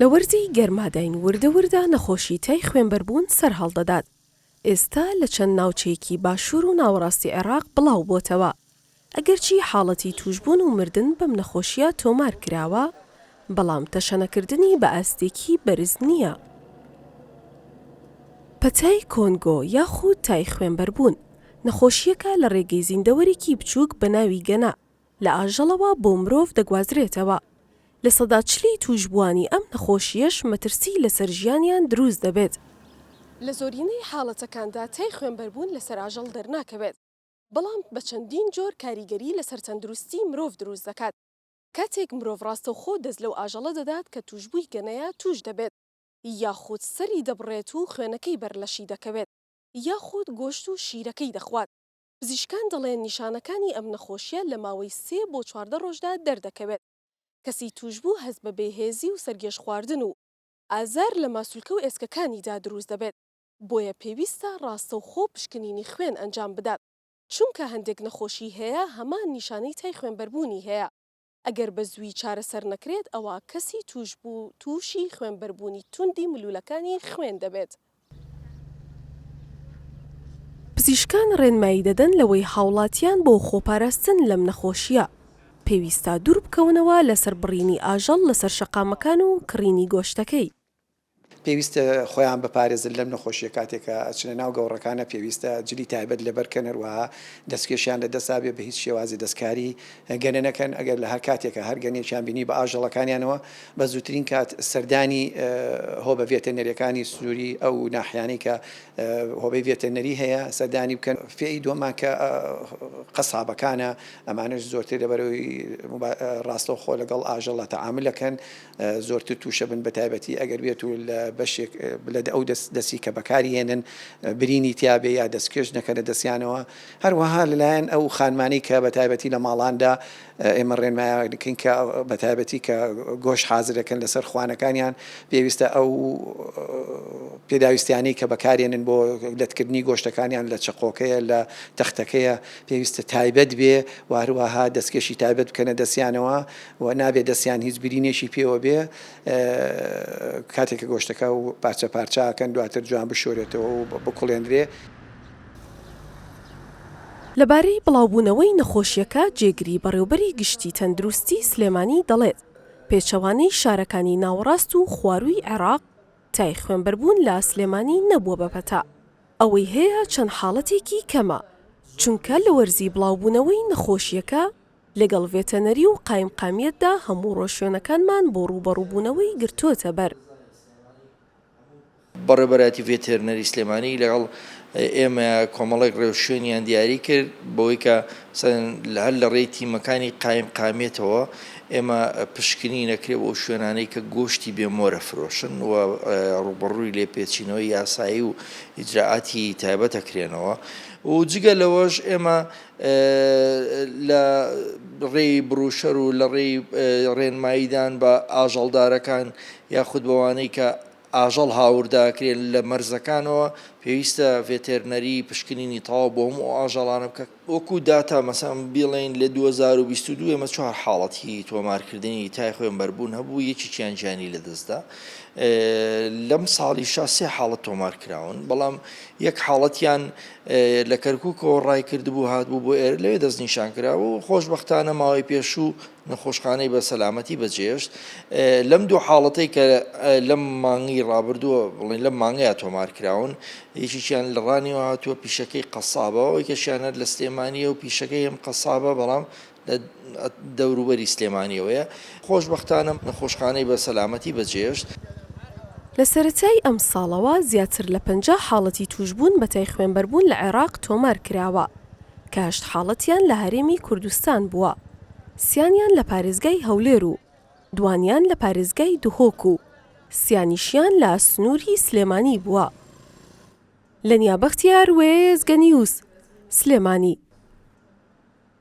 لە وەرزی گەرماداین وردە وردە نەخۆشی تای خوێنبەربوون سەرهەڵدەدات، ئێستا لە چەند ناوچەیەکی باشوور و ناوەڕاستی عێراق بڵاوبۆتەوە، ئەگەرچی حاڵەتی تووشبوون و مردن بەم نەخۆشییە تۆمارکراوە، بەڵام تەشەنەکردنی بە ئاستێکی بەرز نییە. پەتای کۆنگۆ یاخود تای خوێنبەربوون، نەخۆشییەکە لە ڕێگەی زیندەوەرێکی بچووک بە ناوی گەنا لە ئاژەڵەوە بۆ مرۆڤ دەگوازرێتەوە، لە سەدا چلی تووشبووانی ئەم نەخۆشییەش مەترسی لەسەر ژیانیان دروست دەبێت. لە زۆرینەی حاڵەتەکاندا تای خوێنبەربوون لەسەر ئاژەڵ دەرناکەوێت، بەڵام بە چەندین جۆر کاریگەری لەسەر تەندروستی مرۆڤ دروست دەکات. کاتێک مرۆڤ ڕاستەوخۆ دەست لەو ئاژەڵە دەدات کە تووشبووی گەنەیە تووش دەبێت، یاخود سەری دەبڕێت و خوێنەکەی بەر لەشی دەکەوێت، یاخود گۆشت و شیرەکەی دەخوات. پزیشکان دەڵێن نیشانەکانی ئەم نەخۆشییە لە ماوەی سێ بۆ چواردە ڕۆژدا دەردەکەوێت، کەسی تووشبوو هەست بە بێهێزی و سەرگێژخواردن و ئازار لە ماسولکە و ئێسکەکانیدا دروست دەبێت، بۆیە پێویستە ڕاستەوخۆ پشکنینی خوێن ئەنجام بدات. چونکە هەندێک نەخۆشی هەیە هەمان نیشانەی تای خوێنبەربوونی هەیە ئەگەر بە زووی چارەسەر نەکرێت ئەوا کەسی تووشبوو تووشی خوێنبەربوونی توندی ملوولەکانی خوێن دەبێت. پزیشکان ڕێنمایی دەدەن لەوەی هاوڵاتیان بۆ خۆپاراستن لەم نەخۆشییە پێویستە دوور بکەونەوە لەسەر بڕینی ئاژەڵ لەسەر شەقامەکان و کڕینی گۆشتەکەی. پێویستە خۆیان بپارێزن لەم نەخۆشیە کاتێک کە ئەچنە ناو گەوڕەکانە پێویستە جلی تایبەت لەبەرکەن هەروەها دەستکێشیان لە دەستا بێ بەهیچ شێوازی دەستکاری گەنە نەکەن ئەگەر لە هەر کاتێکا هەر گەنێکیان بینی بە ئاژەڵەکانیانەوە بە زووترین کات سەردانی هۆبە ڤێتەنەریەکانی سنوری ئەو ناحیانەی کە هۆبەی ڤێتەنەری هەیە سەردانی بکەن فێی دووەمان کە قەسابەکانە ئەمانش زۆرتر لەبەرەوەی ڕاستەوخۆ لەگەڵ ئاژەڵە تەعاملەکەن زۆرتر توشە بن بەتایبەتی ئەگەر بێت و لە بەشێک لە ئەو دەستی کە بەکاری هێنن برینی تیاابێ یا دەستکێش نەکە لە دەستیانەوە هەروەها لەلایەن ئەو خانمانی کە بەتایبەتی لە ماڵاندا ئێمە ڕێنمایاکەین کە بەتایبەتی کە گۆش حازرەکەن لەسەر خوانەکانیان پێویستە ئەو پێداویستیانی کە بەکارێنن بۆ لەتکردنی گۆشتەکانیان لە چقۆکەیە لە تەختەکەیە پێویستە تایبەت بێ وهروەها دەستکێشی تایبەت بکەنە دەستیانەوە و نابێ دەستیان هیچ برینێکی پێوە بێ کاتێک کە گۆشتەکە و پارچە پارچاکەن دواتر جوان بشۆرێتەوە و بکوڵێندرێ. لەبارەی بڵاوبوونەوەی نەخۆشییەکە جێگری بەڕێوبەری گشتی تەندروستی سلێمانی دەڵێت، پێچەوانەی شارەکانی ناوەڕاست و خوارووی عێراق تای خوێنبەربوون لە سلێمانی نەبووە بە پەتا، ئەوەی هەیە چەند حاڵەتێکی کەمە، چونکە لە وەرزی بڵاوبوونەوەی نەخۆشییەکە لەگەڵ ڤێتەنەری و قایمقامیەتدا هەموو ڕۆشوێنەکانمان بۆ ڕووبەڕووبوونەوەی گرتۆتە بەر. بەڕێوبەرایەتی ڤێتێرنەری سلێمانی لەگەڵ ئێمە کۆمەڵێک ڕێوشوێنیان دیاری کرد بەوەی کە هەر لە ڕێی تیمەکانی قایمقامیەتەوە ئێمە پشکنی نەکرێ بۆ شوێنانەی کە گۆشتی بێ مۆرە فرۆشن و ڕووبەڕووی لێپێچینەوەی یاسایی و ئیجرائاتی تایبەت ئەکرێنەوە و جگە لەوەش ئێمە لە ڕێی بروشەر و لە ڕێی ڕێنماییدان بە ئاژەڵدارەکان یاخود بەوانەی کە ئاژەڵ هاورداکرێن لە مەرزەکانەوە پێویستە ڤێتێرنەری پشکنینی تەواو بۆ هەموو ئەو ئاژەڵانە بکات وەکو داتا مەسەن بیڵێین لە دوو هەزار و بیست و دوو ئێمە چوار حاڵەتی تۆمارکردنی تای خوێنبەربوون هەبوو یەکێکیان گیانی لەدەستدا لەم ساڵیشا سێ حاڵەت تۆمارکراون بەڵام یەک حاڵەتیان لە کەرکوکەوە ڕایکردبوو هاتبوو بۆ ئێرە لەوێ دەستنیشان کرا و خۆشببختانە ماوەی پێشوو نەخۆشخانەی بە سەلامەتی بەجێشت لەم دوو حاڵەتەی کە لەم مانگی ڕابردووە بڵین لە مانگەیە تۆمار کراون یەکیان لە ڕانیەوە هاتووە پیشەکەی قەسابەوە یکەشیانەر لە سلێمانیە و پیشەکەی ئەم قەسابە بەڵام لە دەوروبەری سلێمانییەوەیە، خۆشبەختانە نەخۆشخانەی بە سەلامەتی بەجێهێشت. لە سەرەتای ئەمساڵەوە زیاتر لە پەنجا حاڵەتی تووشبوون بە تای خوێنبەربوون لە عێراق تۆمار کراوە، کە هەشت حاڵەتیان لە هەرێمی کوردستان بووە، سیانیان لە پارێزگای هەولێر و دوانیان لە پارێزگای دهۆک و سیانیشیان لە سنووری سلێمانی بووە. لەنیا بەختیار، وێستگەنیوز، سلێمانی.